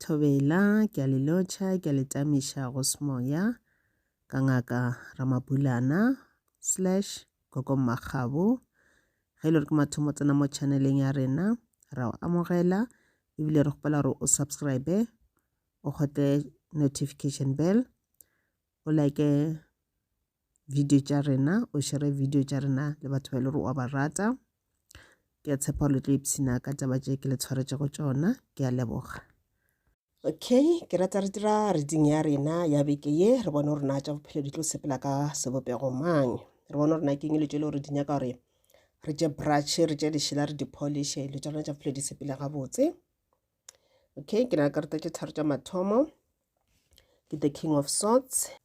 Thobela, ke a le lotšha, ke a le tamiša go semoya, ka Ngaka Ramabulana slash Gogo Mmakgabo. Ge e le gore ke mathomo tsena mo channeleng ya rena, ra o amogela ebile re kgopela gore o subscribe o kgotle notification bell o like video tša rena o šere video tša rena le batho ba e le gore wa ba rata ke a tshepa le tlo ipshina ka taba tše ke le tshwaretšego tšona ke a leboga okay ke rata re dira reading ya rena ya beke ye re bone gore na tša bophelo di tlo sepela ka sebopego mang re bone gore na ke eng le tšo le gore di nyaka gore re tše brushe re tše lešela re dipolishe dilo tša rona tša bophelo di sepele gabotse okay ke na le karata tše tharo tša mathomo ke the king of sorts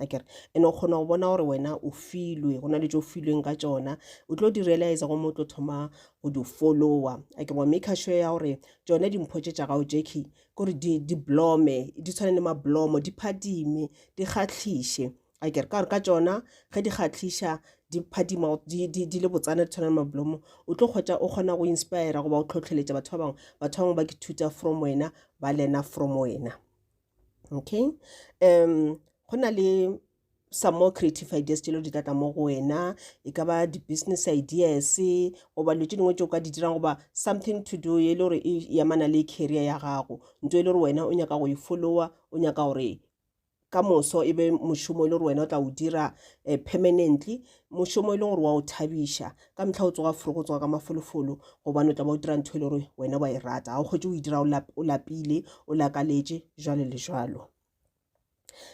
akere ene o kgona go bona gore wena o filwe go na le tso filweng ka tsona o tlo di realize go mo tlo thoma go di followa ake wa make sure ya gore tsone dimpho tse tša gago jackie kore di, di blome di tshwane le mablomo di phadime di kgatlhiše akere ka gore ka tsona ge di kgatlhiša di phadima di, di, di le botsana di tshwana le mablomo o tlo kgotsa o kgona go inspira goba o tlhotlheletša batho ba bangwe batho ba bangwe ba ke thuta from wena ba lena from wena okay um go na le some more creative ideas tšelo di tlatla mo go wena e ka ba di-business ideas goba dilo tše dingwe tše o ka di dirang goba something to do e le gore e yamana le career ya gago nto e le gore wena o nyaka go e followa o nyaka gore ka moso e be mošomo e le gore wena o tla o dira um permanently Mošomo e leng gore wa o thabiša. Ka mehla o tsoga forogo, o tsoga ka mafolofolo gobane o tla ba o dira ntho e le gore wena wa e rata. Ga o kgwetse o e dira o lapile, o lakaletše, jwalo le jwalo.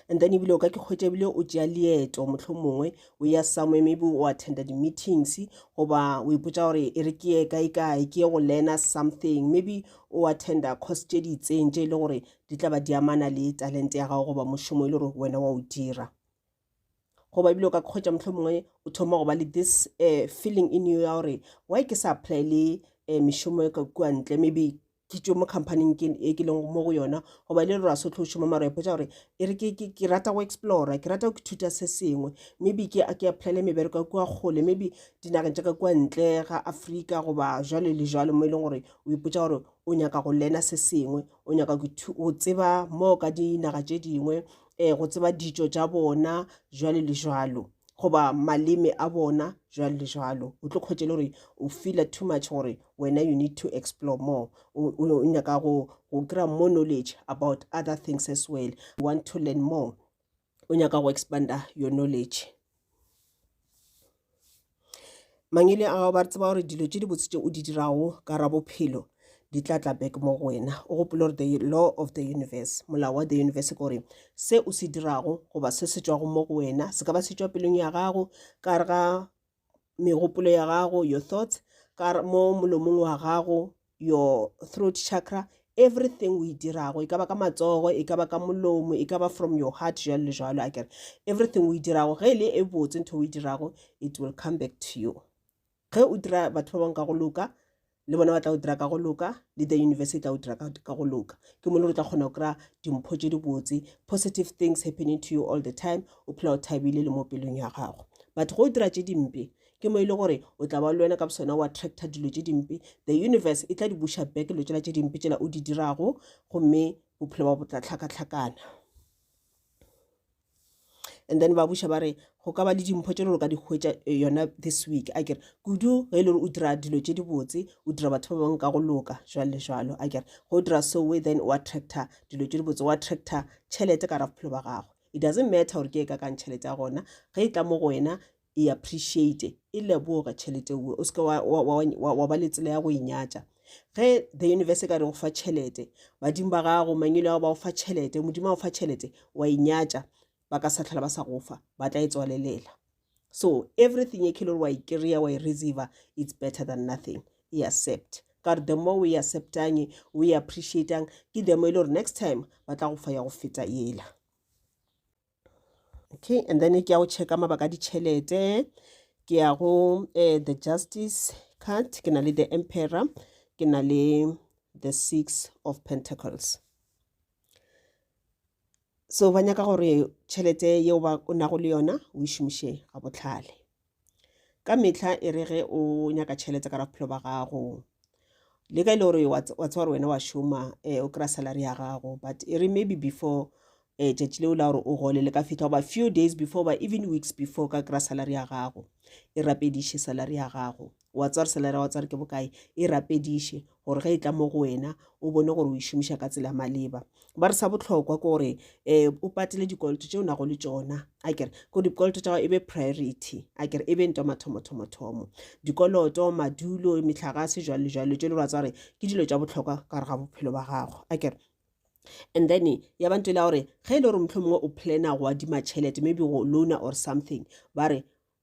And then ebile o ka ke kgwetša ebile o tšea leeto motlho mongwe o ya somewhere maybe o attenda di-meetings goba o ipotsa gore e re ke ye kae kae ke ye go learna something maybe o attenda course tše di itseng tše e le gore di tla ba di amana le talente ya gago goba mošomo e le gore wena wa o dira goba ebile o ka kgwetša mohlho mongwe o thoma go ba le this uh, feeling in you ya gore why ke sa apply le uh, mešomo e ka kua ntle maybe ke tšwe mo companyng e ke leng mo go yona goba e le re ra sotlo o šoma mara epotsa gore e re ke rata go explora ke rata go ithuta se sengwe maybe ke ke applyele mebereko ya kua kgole maybe dinageng tša ka kua ntle ga afrika goba jalo le jalo mo e leng gore o ipotsa gore o nyaka go lena se sengwe o nyaka go tseba mo ka dinaga tše dingwe um go tseba ditšo tša bona jwalo le jwalo goba maleme a bona jwalo le jwalo o tlo kgwetše le gore o feela too much gore wena you need to explore more o nyaka go kry-a more knowledge about other things as well you want to learn more o nyaka go expanda your knowledge Mang e le a gago ba tseba gore dilo tše dibotse tše o di dirago ka ra bophelo di tla tla back mo go wena o gopole gore the law of the universe molao wa the universe ke gore se o se dirago goba se se tšwago mo go wena se ka ba se tšwa pelong ya gago ka re ga megopolo ya gago your thoughts ka mo molomong wa gago your throat chakra everything o e dirago e ka ba ka matsogo e ka ba ka molomo e ka ba from your heart jalo le jalo a kere everything o e dirago ge e le e botse ntho o e dirago it will come back to you ge o dira batho ba bangwe ka go loka le bona ba tla o dira ka go loka le the university e tla o dira ka go loka ke mo le re tla kgona go kry-a dimpho tse dibotse positive things happening to you all the time o phela o thabile le mo pelong ya gago but go o dira tse dimpe Ke mo e le gore o tla ba le wena ka bosona o attracta dilo tše dimpe. The universe e tla di busha back dilo tšela tše dimpe tšela o di dirago gomme bophelo ba bo tla tlhakatlhakana. And then ba buša ba re go ka ba le dimpho tše le gore ka di hwetša eh, yona this week a kere kudu ge e le gore o dira dilo tše dibotse o dira batho ba bangwe ka go loka jwalo le jwalo a kere ge o dira soe then o attracta dilo tše dibotse o attracta tšhelete ka ra bophelo ba gago it doesn't matter gore ke e ka kang tšhelete ya gona ge e tla mo go wena e appreciate e leboge tšhelete ue o seke wa, wa, wa, wa, wa ba le tsela ya go e nyatša ge the universe e ka re go fa tšhelete badimo ba gago mangwele ao ba go fa tšhelete modimo a go fa tšhelete wa e nyatša ba ka sa tlhola ba sa go fa ba tla e tswalelela so everything e khelore wa e kry-a wa e receive it's better than nothing e accept ka gore the more o e acceptang o e appreciatang ke the more e le gore next time ba tla go fa ya go feta ela okay and then ke ya go checka mabaka a ditšhelete ke ya go uh, the justice card ke na le the emperor ke na le the six of pentacles so ba nyaka gore tšhelete yeo ba o nago le yona o e šomiše ga botlhale ka mehla e re ge o nyaka tšhelete ka bophelo ba gago le ka e le gore wa tseba gore wena wa šoma um o kry-a salary ya gago but e re maybe before um tšatši leo la gore o gole le ka fitlha goba few days before ba even weeks before ka kry-a salary ya gago e rapediše salary ya gago wa tsare selera wa tsare ke bokae e rapediše gore ge e tla mo go wena o bone gore o e šomiša ka tsela maleba ba re sa botlhokwa ke gore um o patele dikoloto tse o nago le tsona a kere ko dikoloto tsa gago e be priority a kere e be nto mathomothomo dikoloto madulo metlhagase jalo le jalo tse le ba tsare ke dilo tsa botlhokwa ka re ga bophelo ba gago a kere and then ya ba ntwela gore ge e le gore motlho mongwe o plana go adima tšhelete maybe go loana or something ba re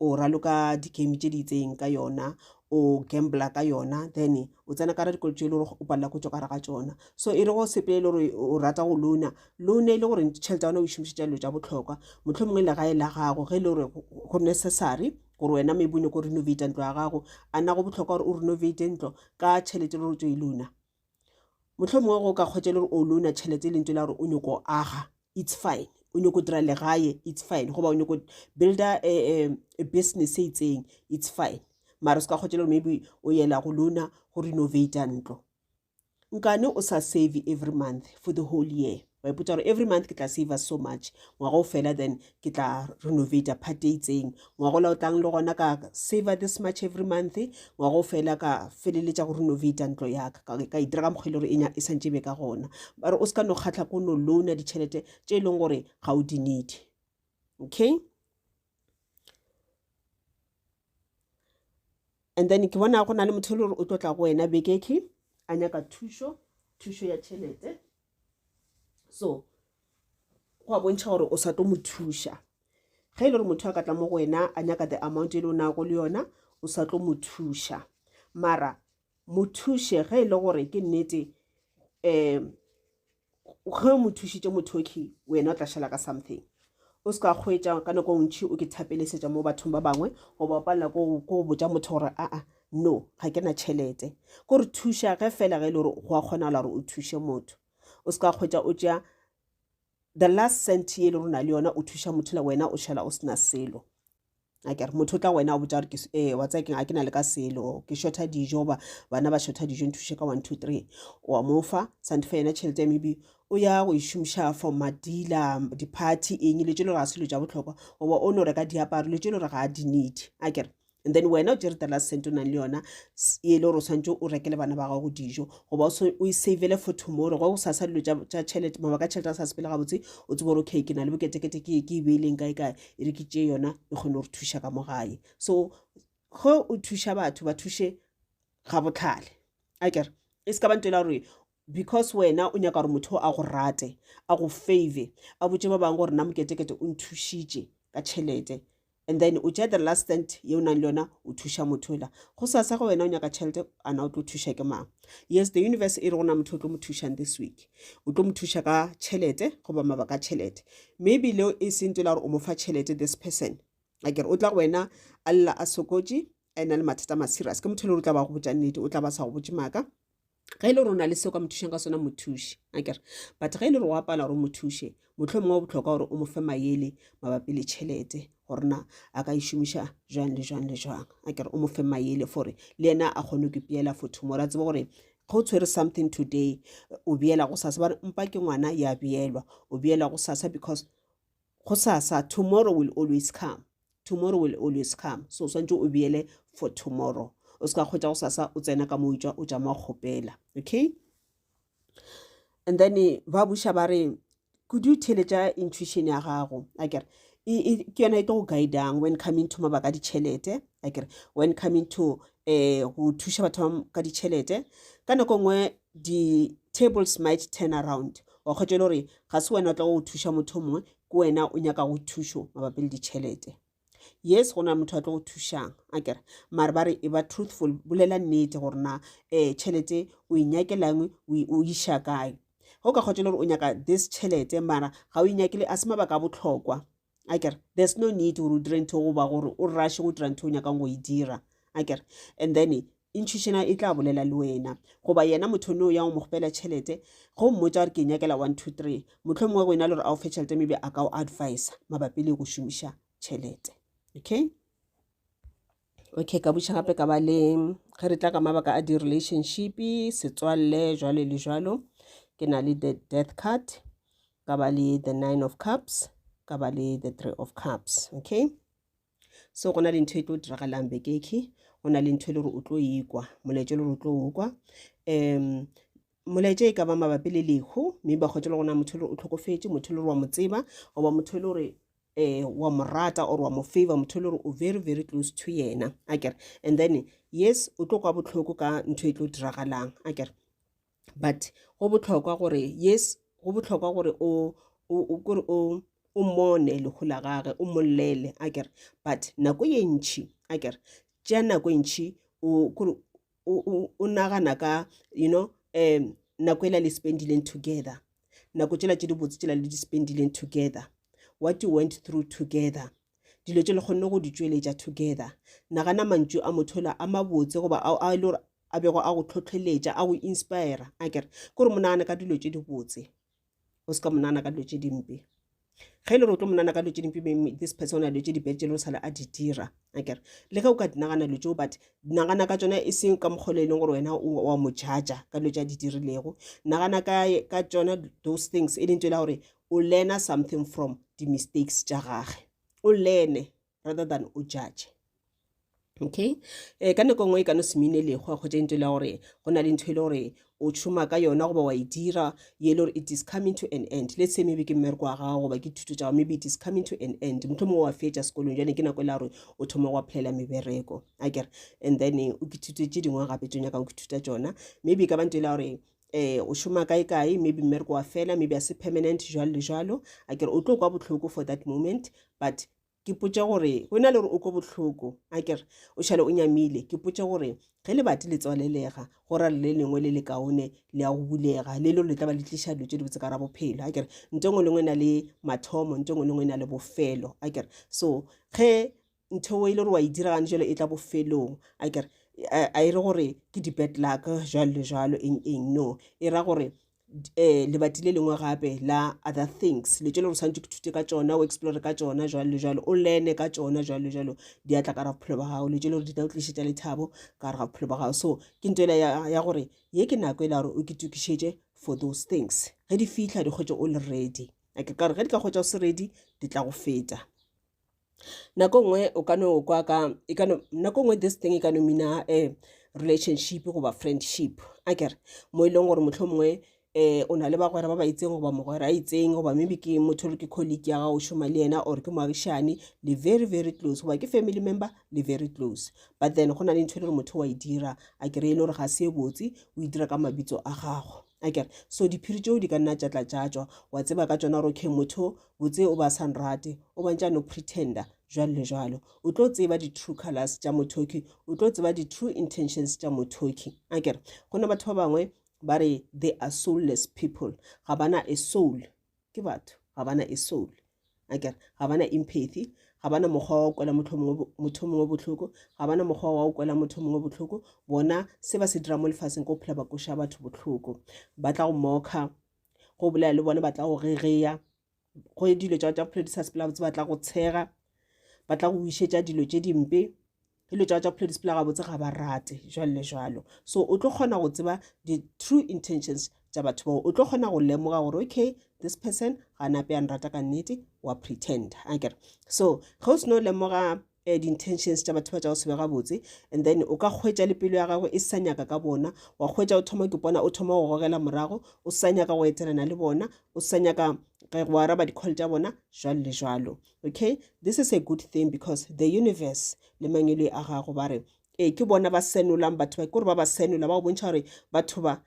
o raloka di-game tše di itseng ka yona o gambler ka yona then o tsena ka ra dikolo tše e le gore o palela go tswa kare ga tsona so e le go sepele le gore o rata go lona lona e le gore tšhelete ya ona o e šomišetša dilo tša botlhokwa motlho mongwe le gae la gago ge e le gore go necessary gore wena maybe o nyako renovate ntlo ya gago a na go botlhokwa gore o renovate ntlo ka tšhelete le gore o tswe e lona mohlomongwe go ka kgwetša le gore o louna tšhelete e lentswe la gore o nyoko aga it's fine o nyoko dira legae it's fine goba o nyoko builda eh, eh, business e itseng it's fine mara se ka kgwetša le gore maybe o yela go louna go renovata ntlo nkane o sa save every month for the whole year wa ipotsa gore every month ke tla saver so much ngwaga o fela then ke tla renovator part e itseng ngwaga ola o tlang le gona ka saver this much every month ngwaga o fela ka feleletša go renovator ntlo yaka ka e dira ka mokgwa e le gore e santse be ka gona ba re o se ka no kgatlha ko no loana ditšhelete tše e leng gore ga o di need okay and then ke bona go na le motho e le gore o tlo tla go wena bekeke a nyaka thušo thušo ya tšhelete so go a bontšha gore o sa tlo mo thuša ge e le gore motho a ka tla mo go wena a nyaka the amount e le o nago le yona o sa tlo mo thuša mara mo thuše ge e le gore ke nnete um ge o mo thušitše mothoki wena o tla šala ka something o se ka kgwetsa ka nako ntšhi o ke thapelesetša mo bathong ba bangwe goba o palela ko go botša motho gore aa no ga ke na tšhelete ko re thuša ge fela ge e le gore go a kgonagala gore o thuše motho o se ka kgwetsa o tšea the last cent ye le rona le yona o thuša motho le wena o šala o sena selo a kere motho o tla wena o botsa gore ke ee wa tsaya keng a ke na le ka selo ke shortha dijo ba bana ba shortha dijo nthuse ka one two three wa mo fa sante fa yena tšhelete ya maybe o ya go išomiša for madila di-party eng le tše le gore ga selo ja botlhokwa goba o no reka diaparo le tše le gore ga a di need a kere and then wena o tšere the last cent o nang le yona e le gore o tshwanetse o rekele bana ba gago dijo goba o e savele for tomorrow go sa sa dilo tša tšhelete mabaka tšhelete a sa sepele gabotse o tsebe gore okay ke na le boketekete ke ke e beileng kae kae e re ke tše yona e kgone go re thuša ka mo gae so ge o thuša batho ba thuše ga botlhale a kere e se ka bantela gore because wena o nyaka gore motho a go rate a go favor a botse ba bangwe gore na moketekete o nthušitše ka tšhelete and then o tšea the last stand ye o nang le yona o thuša motho ela go sasa go wena o nyaka tšhelete ana o tlo thuša ke mang yes the universe e re go na motho o tlo mo thušang this week o tlo mo thuša ka tšhelete goba mabaka a tšhelete mme ebile e seng tsela gore o mo fa tšhelete this person akere o tla go wena a lla a sokotše a ena le mathata ma serious ke motho e le gore o tla ba go botša nnete o tla ba sa go botše maaka ge e le gore o na le seo ka mothušang ka sona mothuši akere but ge e le gore o apala gore o mothuše Mohlomongwe go bohlokwa gore o mo fe mayele mabapi le tšhelete gore na a ka e šomiša jwang le jwang le jwang a kere o mo fe mayele fore le yena a kgone go peela for tomorrow a tsebe gore ga o tshwere something today o beela go sasa bare mpa ke ngwana ya beelwa o beela go sasa because go sasa tomorrow will always come tomorrow will always come so o swantse o beele for tomorrow o se ka kgwetsa go sasa o tsena ka mo o tswa o ja mo kgopela okay and then ba buša ba re kudu theletša intuition ya gago a kere ke yona e tlo go guidang when coming to mabaka a ditšhelete a kere when coming to um go thuša batho ba ka ditšhelete ka nako nngwe di-tables might turn around wa kgwetša le gore ga se wena o tla go thuša motho mongwe ke wena o nyaka go thušo mabapi le ditšhelete yes go na motho a tlo go thušang a kere mare ba re e ba truthful bolela nnete gore na um tšhelete o e nyakelangwe o iša kae go ka kgotsa le gore o nyaka this tšhelete mara ga o e nyakele a se mabaka a botlhokwa a kere there's no need gore o dire ntho goba gore o rashe go dira ntho o nyakang go e dira a kere and then E ntšhišena e tla bolela le wena. Goba yena motho noo ya go mo kgopela tšhelete, ge o mmotša gore ke nyakela one, two, three, mohlomongwe go e na le gore a o fe tšhelete maybe a ka o advisa mabapi le go šomiša tšhelete. Okay? Okay, ka butša gape ka ba le ge re tla ka mabaka a di-relationship, setswalle, jwalo le jwalo. Ke na le the death card, ka ba le the nine of cups, ka ba le the three of cups. Okay? so go na le ntho e tlo diragalang bekekhi go na le ntho e le gore o tlo ikwa molaetša e le gore o tlo okwa um molaetša e ka ba mabapi le lehu mme ba kgwetse le gona motho le gore o tlhokofetse motho le gore wa mo tseba goba motho le gore eh wa mo rata or wa mo favor motho le gore o very very close to yena a kere and then yes o tlo kwa botlhoko ka ntho e tlo diragalang a kere but go bohlokwa gore yes go bohlokwa gore o kore o o mmone lehu la gage o mmolele a kere but nako ye ntšhi a kere tša nako e ntšhi kore o nagana ka you know um nako e la le spendileng together nako tšela tše dibotse tšela le di spendileng together what you went through together dilo tše le kgonne go di tšweletša together nagana mantšu a motho ola a mabotse goba a e le gore a bego a go tlhotlheletša a go inspira a kere ke gore monagane ka dilo tše di botse o se ka monagana ka dilo tše dimpe ge e le gore o tlo monana ka dilo tše dimpe this person a dilo tše dibete le o sale a di dira a kere le ge o ka dinagana dilo tseo but nagana ka tsona e seng ka mokgolo e leng gore wena wa mo jaja ka dilo tše a di dirilego nagana ka tsona those things e leng tsela gore o learna something from di-mistakes tša gage o learne rather than o judge. Okay ka nako nngwe e ka no se mean-e le go kgotsa into le ya gore go na le ntho e le gore o šoma ka yona goba wa e dira ye le gore it is coming to an end let's say maybe ke mmereko wa gago goba ke thuto tša gago maybe it is coming to an end motlho mongwe wa fetša sekolong jane ke nako e le gore o thoma go applyela mebereko a kere and then eh, o ke thuto tše dingwe gape tso nyakang ke thuta tsona maybe e ka ba nto e le gore eh o šoma kae kae maybe mmereko wa fela maybe a se permanent jalo le jalo a kere o tlo kwa botlhoko for that moment but ke potša gore go na le gore o ko bohloko a kere o šale o nyamile ke potša gore ge lebati le tswalelega go ra le lengwe le le kaone le ya go bulega le lo le tla ba le tliša dilo tse dibotse ka ra bophelo a kere nto engwe lengwe e na le mathomo nto engwe lengwe e na le bofelo a kere so ge ntho e le gore wa e diragane jalo e tla bofelong a kere a e re gore ke di-bad luck jalo le jalo eng eng no e ra gore eh lebati le lengwe gape la other things le tšele gore tshwanetse ke thute ka tsona o explore ka tsona jalo le jalo o lene ka tsona jalo le jalo di atla ka ra bophelo ba gago le tšele gore di tla o tlišetša lethabo ka gare ga bophelo ba gago so ke nto ela ya gore ye ke nako e la gore o ke tokišetše for those things ge di fitlha di kgwetše o le ready ake kare ge di ka kgwetša o se ready di tla go feta nako nngwe o ka no kwa ka e ka no nako nngwe this thing e ka no mina um relationship goba friendship a kere mo e leng gore motlho mongwe um o na le bagwera ba ba itseng goba mogwera a itseng goba maybe ke motho re ke colleague ya gago šoma le yena or ke moagišane le very very close goba ke family member le very close but then go na le ntho e le gore motho wa e dira a kere e le gore ga se e botse o e dira ka mabitso a gago a kere so diphiri tšeo di ka nna tša tlatšatšwa wa tseba ka tsona gore okay motho botse o ba sa nrate o bontša no pretender jwalo le jwalo o tlo tseba di-true colors tša mothoki o tlo tseba di-true intentions tša mothoki a kere go na batho ba bangwe ba re they are soulless people ga bana a soul ke batho ga bana a soul a kere ga bana empathy ga bana mokgwa wa go kwela motho mongwe botlhoko ga bana mokgwa wa go kwela motho mongwe botlhoko bona se ba se dira mo lefatsheng ko phela ba koša batho botlhoko ba tla go moka go bolela le bone ba tla go rereya go ye dilo tša tša bophelo di sa sepela botse ba tla go tshega ba tla go wišetša dilo tše dimpe dilo tša tša bophelo di sepela gabotse ga ba rate jalo le jalo so o tlo kgona go tseba di-true intentions tša batho bao o tlo kgona go lemoga gore okay this person ga nape yang rata ka nnete wa pretend akere so ge o seno lemoga eh, di-intentions tša batho ba tša go se be gabotse and then o ka kgwetša le pelo ya gago e sa nyaka ka bona wa kgwetša o thoma ke bona o thoma go gogela morago o sa nyaka go etelana le bona o sa nyaka ge go araba di-call tša bona jalo le jalo okay this is a good thing because the universe le mangelo a gago ba re ee ke bona ba senolang batho ba ke gore ba ba senola ba go bontšha gore batho ba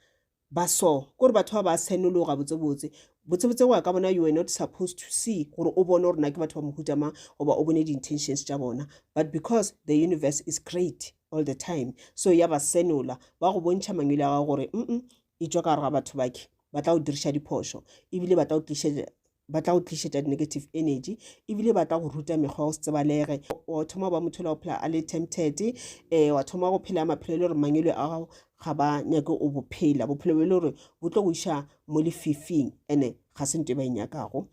Ba so. Kore batho ba ba senolo gabotsebotse. Botsebotse go ya ka bona you were not supposed to see gore o bone gore na ke batho ba mohuta mang goba o bone di intentions tša bona but because the universe is great all the time so ya ba senola ba go bontšha mangwele a gago gore mm e tšwa ka gare ga batho bake ba tla go diriša diphošo ebile ba tla go tlišetša ba tla go tlišetša di-negative energy ebile ba tla go ruta mekgwa o se tsebalege wa thoma go ba motho la go phela a le tempted um wa thoma go phela maphelo e le gore mangwele a gago ga ba nyake o bophela bophelo bo e le gore bo tlo go iša mo lefifing and-e ga se nto e ba e nyakago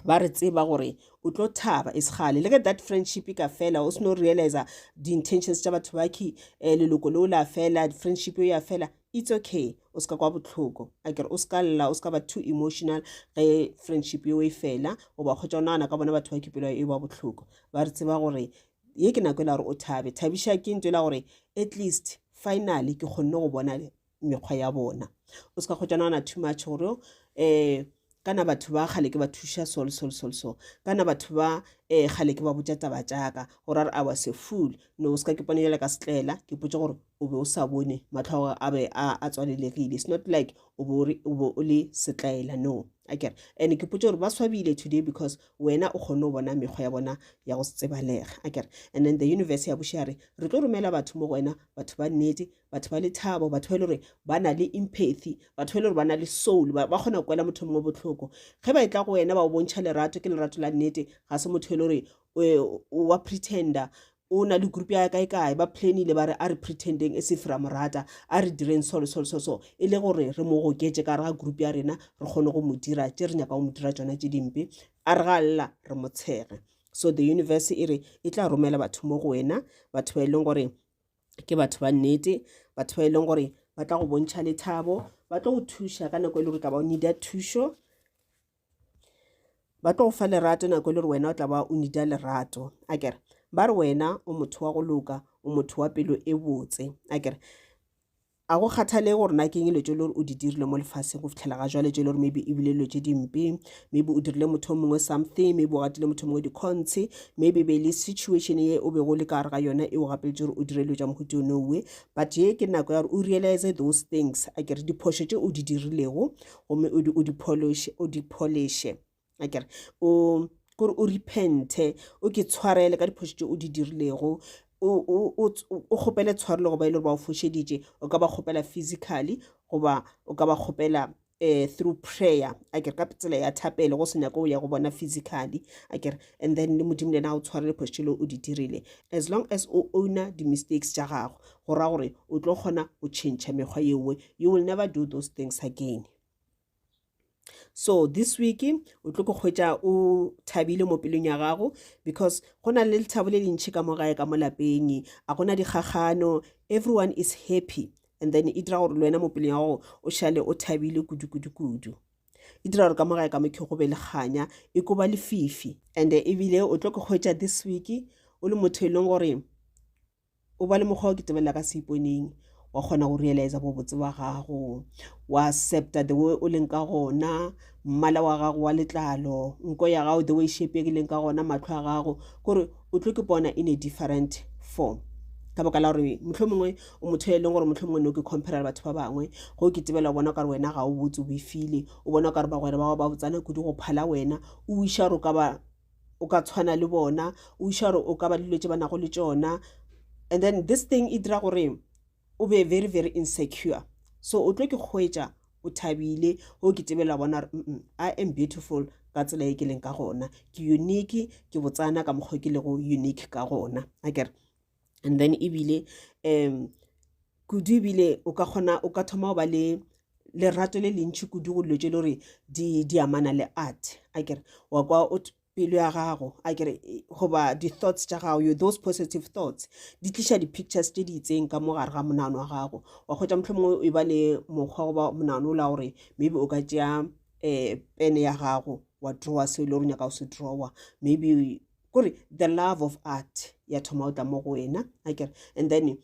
ba re tseba gore o tlo thaba e segale le ge that friendship e ka fela o seno realiza di-intentions tša batho baki um eh, leloko leo la fela friendship eo ya fela It's okay o se ka kwa bohloko a kere o se ka lla o se ka ba too emotional ge friendship yeo e fela o ba kgotsa o nagana ka bona batho ba kepelo e ba bohloko ba re tseba gore ye ke nako e la gore o thabe thabiša ke ntho e la gore at least finally ke kgonne go bona mekgwa ya bona o se ka kgotsa nagana too much gore um Kana batho ba kgale ke ba thuša so le so le so le so. Kana batho ba eh, kgale ke ba botša taba tša ka. Gore a re, I was a fool. No, o se ka ke pone bjale ka setlaela. Ke potše gore o be o sa bone, mahlo a gago a be a, a tswalelegile. It's not like o be o re- o be o le setlaela. No. A ke re, and ke potše gore ba swabile today because wena o kgonne go bona mekgwa ya bona ya go se tsebalega. A ke re, and then the universe ya buša ya re, Re tlo romela batho mo go wena, batho ba nnete, batho ba lethabo batho ba e le gore ba na le empathy batho ba e le gore ba na le soul ba kgona go kwela motho mongwe botlhoko ge ba e tla go wena ba o bontšha lerato ke lerato la nnete ga se motho e le gore eh, wa pretender o na le group ya kae kae ba planile ba re a re pretendeng e se fira morata a re direng solo solo so so e le gore re mo goketse ka re ga group ya rena re kgone go mo dira tse re nyaka go mo dira tsona tse dimpe a re ga lla re mo tshege so the universe e re e tla romela batho mo go wena batho ba e leng gore ke batho ba nnete batho ba e leng gore ba tla go bontšha lethabo ba tlo go thuša ka nako e le gore tla ba o nida thušo ba tlo go fa lerato nako e le gore wena o tla ba o nida lerato a kere ba re wena o motho wa go loka o motho wa pelo e botse a kere A go kgathalege gore na ke eng dilo tše le gore o di dirile mo lefaseng go fitlhela ga jwale tše le gore maybe e bile dilo tše dimpe maybe o dirile motho o mongwe something maybe o gatile motho o mongwe dikgontshi maybe be le situation ye o bego le ka gare ga yona e o gapeletše gore o dire dilo tša mohuti o nowe but ye ke nako ya gore o realize those things a kere diphošo tše o di dirilego gomme o di-polish o di-polishe a kere o kore o repente o ke tshwarele ka diphošo tše o di dirilego o kgopele tshwarelo goba e le gore ba o fošeditše o ka ba kgopela physically goba o ka ba kgopela um through prayer a kere ka tsela ya thapelo go se nyako o ya go bona physically a kere and then le modimo le ena a o tshwarele phošo le o di dirile as long as o owner di-mistakes tša gago go ra gore o tlo kgona go tšhentšha mekgwa yewe you will never do those things again so this week o tlo ko kgwetša o thabile mo pelong ya gago because go na le lethabo le lentšhi ka mo gae ka mo lapeng a gona dikgagano everyone is happy and then e dira gore le wena mo pelong ya gago o šale o thabile kudu-kudu-kudu e dira gore ka mo gae ka mokhe go be le kganya e ko ba lefifi and ebile o tlo ko kgwetša this week o le motho e leng gore O ba le mokgwa o ke tebelela ka seiponeng wa kgona go realize bobotse ba gago wa accepta the way o leng ka gona mmala wa gago wa letlalo nko ya gago the way shape ke leng ka gona matlho a gago kore o tlo ke bona in a different form ka baka la gore motlho mongwe o motho e leng gore motlho mongwe ne o ke compare batho ba bangwe go ke tebela bona kare wena ga o botse o befile o bona kare bagwera ba gago ba botsana kudu go phala wena o wiša gore o ka ba o ka tshwana le bona o iša gore o ka ba dilo tše ba nago le tšona and then this thing e dira gore o be very very insecure so o tlo ke kgwetša o thabile o ke tebela bona gore i am beautiful ka tsela e ke leng ka gona ke unique ke botsana ka mokgwa ke lego unique ka gona a kere and then ebile um kudu ebile o ka kgona o ka thoma go ba le lerato le lentšhi kudu go dilo tše le gore di di amana le art a kere wa kwa o pelo ya gago a kere goba di-thoughts tša gago you those positive thoughts di tliša di-pictures tše di itseng ka mo gare ga monagano wa gago wa kgotsa motlho mongwe e ba le mokgwa goba monagano o la gore maybe o ka tšea um pene ya gago wa drawa seo e le gore nyaka go se drawa maybe kore the love of art ya thoma o tla mo go wena a kere and then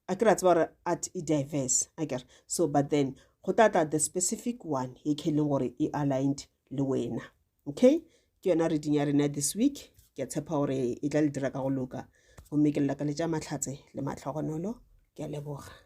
a kere a tseba gore art e diverse a kere so but then go tla tla the specific one e ke leng gore e aligned le wena okay ke yona reading ya rena this week ke a tshepa gore e tla le dira ka go loka gomme ke lela ka letša mahlatse le matlhogonolo ke a leboga